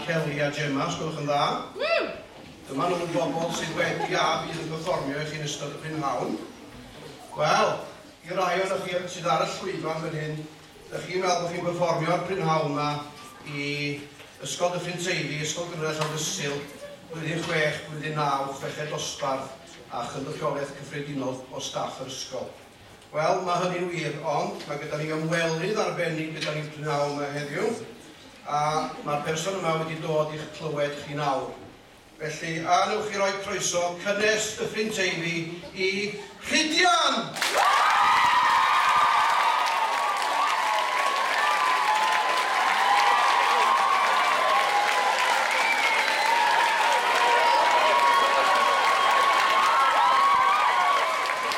Kelly a Gemma, os gwelwch yn dda. Ww! Dyma nhw'r bobl sydd wedi a fydd yn perfformio i chi yn ystod y prynhawn. Wel, i rai ohonoch chi sydd ar y llwyfan fan hyn, dych chi'n meddwl bod chi'n perfformio ar prynhawn yma i Ysgol Dyffryn Teifi, Ysgol Gynradd Llandysul, Blwyddyn Chwech, Blwyddyn Naw, Chweched Dosbarth a Chynrychiolaeth Cyffredinol o staff yr ysgol. Wel, mae hynny'n wir, ond mae gyda ni ymwelydd arbennig gyda ni p'nawn 'ma heddiw, a mae'r person yma wedi dod i'ch clywed chi nawr. Felly, a wnewch chi roi croeso cynnes Dyffryn Teifi i Rhydian!